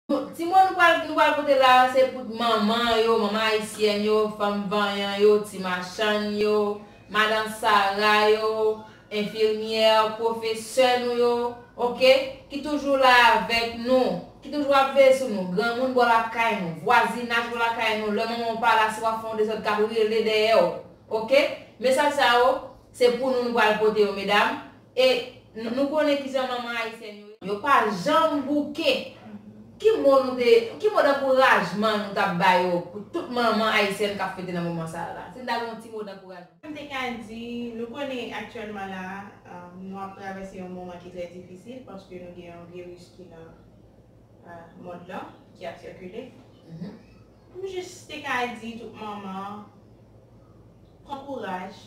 Ti moun nou pral nou pral pote la a se pou manman yo, manman ayisyèn yo, fanm vanyan yo, ti machann yo, madan sara yo, enfirmyè, pwofesè nou yo, ok, ki toujou la avèk nou, ki toujou ap veye sou nou, granmoun bò lakay nou, vwazinaj bò lakay nou, lè manman w pa la si w ap fè yon dezòd k ap rele dèyè w, ok. Mesaj sa yo se pou nou nou pral pote yo medam. E nou konnen kijan manman ayisyèn yo ye. Yo pa janm bouke. Ki mo nou te, ki mo dankourajman nou tap ba yo pou tout manman ayisyèn kap fete nan moman sa yo la? Si n ta gen yon ti mo dankourajman. M te ka di, nou konnen aktyèlman la a, nou ap travèse yon moman ki trè difisil paske nou gen yon viris ki nan mond lan, ki ap sikile. M jis te ka di tout manman, pran kouraj.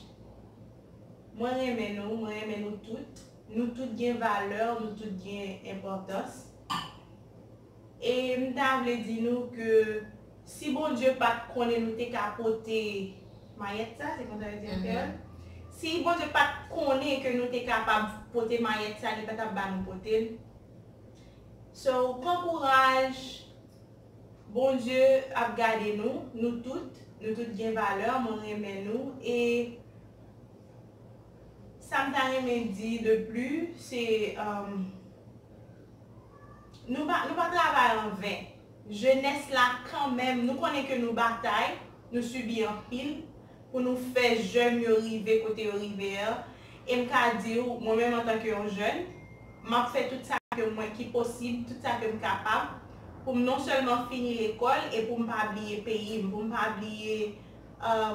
Mwen renmen nou, mwen renmen nou tout. Nou tout gen valè, nou tout gen enpòtans. E m ta vle di nou ke si Bondye pa t konnen nou te ka pote mayèt sa, se konsa yo di an kreyòl? Si Bondye pa t konnen ke nou te kapab pote mayèt sa, li pa t ap ba nou pote l. So, pran kouraj. Bondye ap gade nou, nou tout, nou tout gen valeur, mwen renmen nou e Sam ta renmen di de plu se Nou pa nou pa travay an ven, jenès la kanmenm nou konnen ke nou batay, nou sibi anpil, pou nou fè jèn yo rive kote yo rive an, e m ka di w, mwen menm antanke yon jèn, m ap fè tout sa ke mwen ki posib, tout sa ke m kapab, pou m non sèlman fini lekòl e pou m pa bliye peyi m, pou m pa bliye,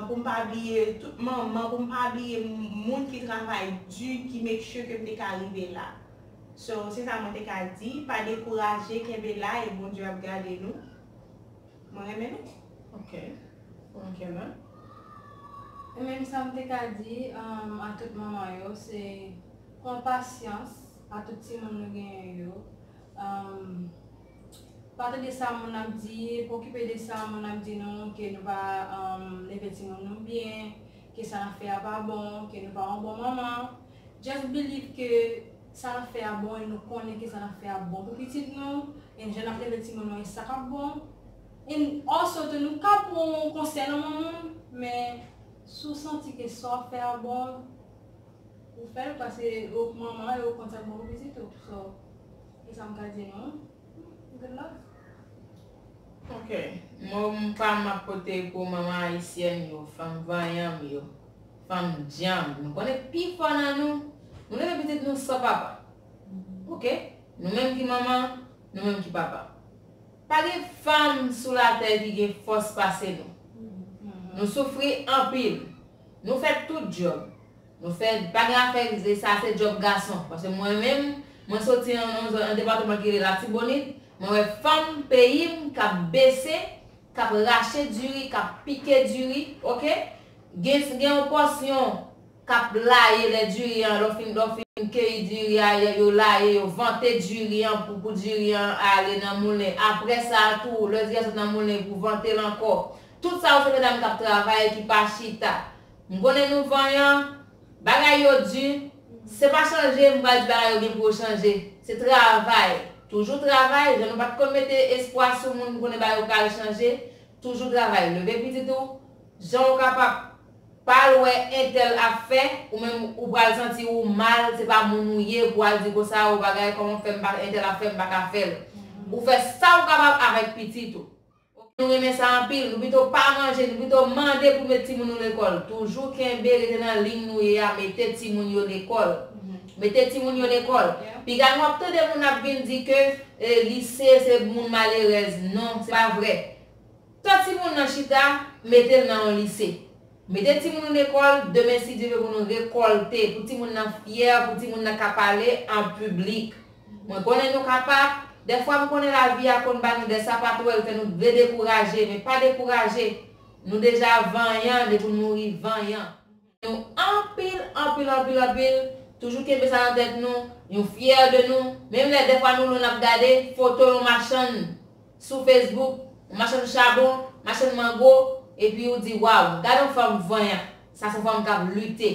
pou m pa bliye tout manman, pou m pa bliye moun ki travay di, ki make sure ke m te ka rive la. So, se sa mwen te ka di, pa dekouraje, kenbe la e Bondye ap gade nou. Mwen renmen nou. Ok. Ou renken mwen. Ou menm sa m te ka di a tout manman yo se pran pasyans a tout timoun nou genyen yo. Pa tande sa moun ap di, pa okipe de sa moun ap di nou ke nou pa leve timoun nou byen, ke sa n ap fè a pa bon, ke nou pa yon bon manman. Just believe ke Sa nap fè a bon e nou konnen kisa nap fè a bon pou pitit nou e jan nap leve timoun nou e sa kap bon e also tou nou ka pran yon konsèy nan men moun men si w santi ke sa wap fè a bon ou fèl paske ou k manman e ou konn sak bon pou pitit ou so e sam ka di nou good luck. Ok mom pam map pote pou manman ayisyèn yo fanm vanyan m yo. Fanm dyanm nou konnen pi fò nan nou Nou leve pitit nou san papa Ok Nou menm ki manman Nou menm ki papa Pa gen fanm sou latè ki gen fòs pase nou Nou soufri anpil Nou fè tout djòb Nou fè pa gen afè e sa se djòb gason Paske mwen menm Mwen soti nan yon zòn nan departeman ki rele latibonit Mwen wè fanm peyi m k ap bese k ap rache diri k ap pike diri Ok. Gen gen yon pòsyon kap laye lè diri an lè w fin lè w fin keyi diri a yo laye yo vante diri an pou pou diri an ale nan moulen aprè sa a tou lè diri a sot nan moulen pou vante l ankò tout sa yo se medam kap travay ki pa chita m konnen nou vanyan bagay yo di se pa chanje m pral di bagay yo gen pou yo chanje se travay toujou travay jan nou pat konn mete espwa sou moun m konnen bagay yo pral chanje toujou travay leve pitit ou Jan ou kapab pal wè entèl ap fè ou menm ou pral santi ou mal se pa moun ou ye pou al di konsa ou bagay kòman fèm pa entèl ap fè mpa ka fèl ou fè sa ou kapab avèk pitit ou ok nou renmen sa anpil nou pito pa manje nou pito mande pou met timoun nou lekòl toujou kenbe rete nan ligne nou ye a mete timoun yo lekòl mete timoun yo lekòl piga nou ap tande moun ap vin di ke lise se moun malerèz non se pa vrè. Tan timoun nan chita, mete l nan yon lise. Mete timoun ou lekòl, demen si Dye vle pou nou rekòlte, pou timoun nan fyè, pou timoun nan ka pale an piblik. Mwen konnen nou ka pa, dèfwa m konnen lavi a konn ba nou dè sapatwèl fè nou vle dekouraje, men pa dekouraje, nou deja vanyan depi w mouri vanyan. nou anpil anpil anpil anpil toujou kenbe sa nan tèt nou nou fyè de nou menm lè dèfwa nou lwen nap gade foto yon machann sou facebook yon machann chabon machann mango epi ou di waw gadon fanm vanyan sa son fanm kap lite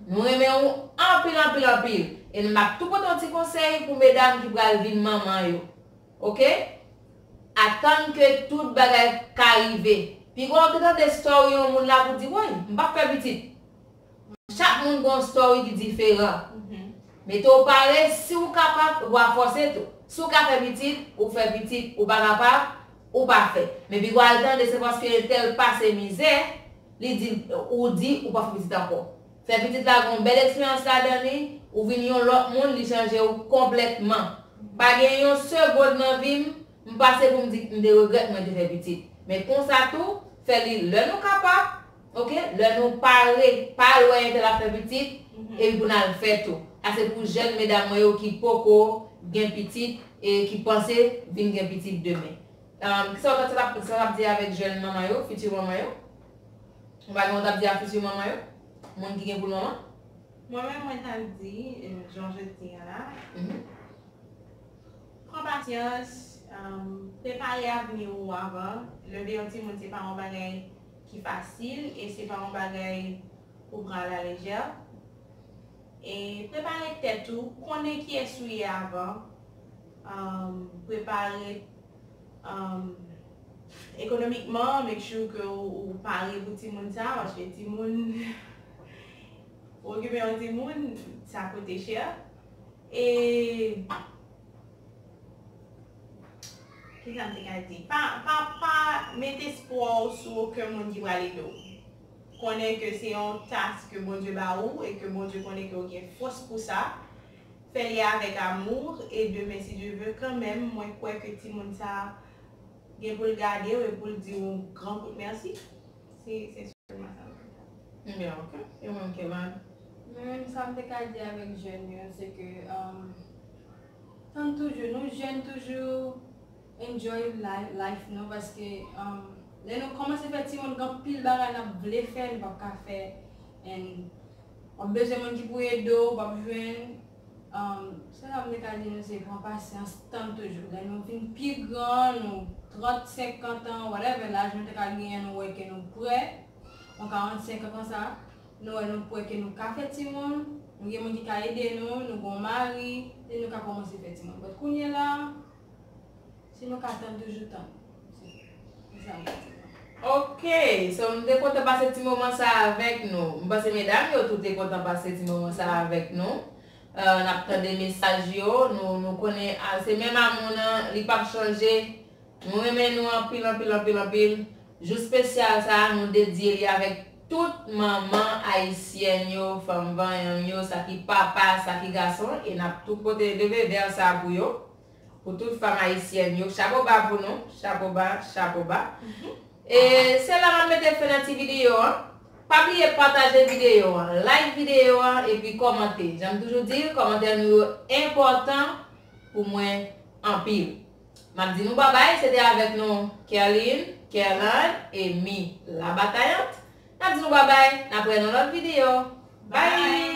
nou renmen ou anpil anpil anpil e nou map tou pote yon ti konsèy pou medam ki pral vin manman yo. Ok atann ke tout bagay ka rive. Piga w te tande story yon moun la pou di woy m pap fè pitit. Chak moun gen yon story ki diferan. Mete w pare si w kapab ou pa fòse tou. Si w ka fè pitit ou fè pitit ou pa kapab ou pa fè. Men piga w al tande se paske entèl pase mizè li di ou di ou pap fè pitit ankò. Fè pitit la gen yon bèl eksperyans ladan li, ou vin yon lòt moun li chanje ou konplètman. Pa gen yon segond nan vi m, m pase pou m di m te regrèt mwen te fè pitit. Men konsa tou, fè li lè nou kapab, ok, lè nou pare, pa al wè entèl ap fè pitit, epi pou n al fè tou. Sa se pou jèn medam mwen yo ki poko gen pitit e ki panse vin gen pitit demen. Kisa w ta, sa sa t ap di avèk jèn manman yo, fiti manman yo? Ou pa gen ou tap di a futur manman yo? Moun ki gen poul manman? Mwen menm mwen ta di jan je t di an la pran pasyans prepare avni ou avan leve yon timoun se pa yon bagay ki fasil e se pa yon bagay ou pran a la lejè e prepare tèt ou konnen kiyès ou ye avan prepare Ekonomikman, make sure ke ou pare pou timoun sa a, paske timoun, pou okipe yon timoun, sa koute chè. E, kisa m te ka di? Pa, pa, pa met espwa w sou oken moun ki pral ede w. Konnen ke se yon task ke Bondye ba ou e ke Bondye konnen ke ou gen fòs pou sa. Fè li avèk amour et demain si Dieu veut kan menm mwen kwè ke timoun sa gen pou l gade w e pou l di w yon gran kout merci se se selman sa mwen ka di. Byen ok e ou menm Kemal? Mwen menm sa m te ka di avèk jèn yo se ke tann toujou nou jèn toujou enjoy life nou paske lè nou kòmanse fè timoun gen anpil bagay n ap vle fè nou p ap ka fè and Wap bezwen moun ki pou ede w, wap jwenn um se sa mwen ta di nou se pran pasyans tann toujou lè nou vin pi gran nou 30 50 ans whatever laj nou te ka genyen nou wè ke nou prè yon 45 ans konsa nou wè nou prè ke nou ka fè timoun nou gen moun ki ka ede nou nou gon mari e nou ka kòmanse fè timoun but kounyela Si nou ka tann toujou tann. Se sa mwen di nou. Ok! So m te kontan pase ti moman sa a avèk nou. M panse medam yo tou te kontan pase ti moman sa a avèk nou. N ap tande mesaj yo. Nou nou konnen se menm amou nan, li pap chanje. Nou renmen nou anpil anpil anpil anpil. Jou spesyal sa a nou dedye li avèk tout manman ayisyèn yo, fanm vanyan m yo, sa ki papa, sa ki gason e n ap tou pote leve vè sa a pou yo. Pou tout fanm ayisyèn yo chapo ba pou nou chapo ba chapo ba e se la map mete fen nan ti video an pa bliye pataje video an like video an epi kòmante janm toujou di kòmantè nou yo enpòtan pou mwen anpil map di nou babay se te avèk nou Kerline Kerlande e Mi la batayant nap di nou babay nap wè nan lòt video bye.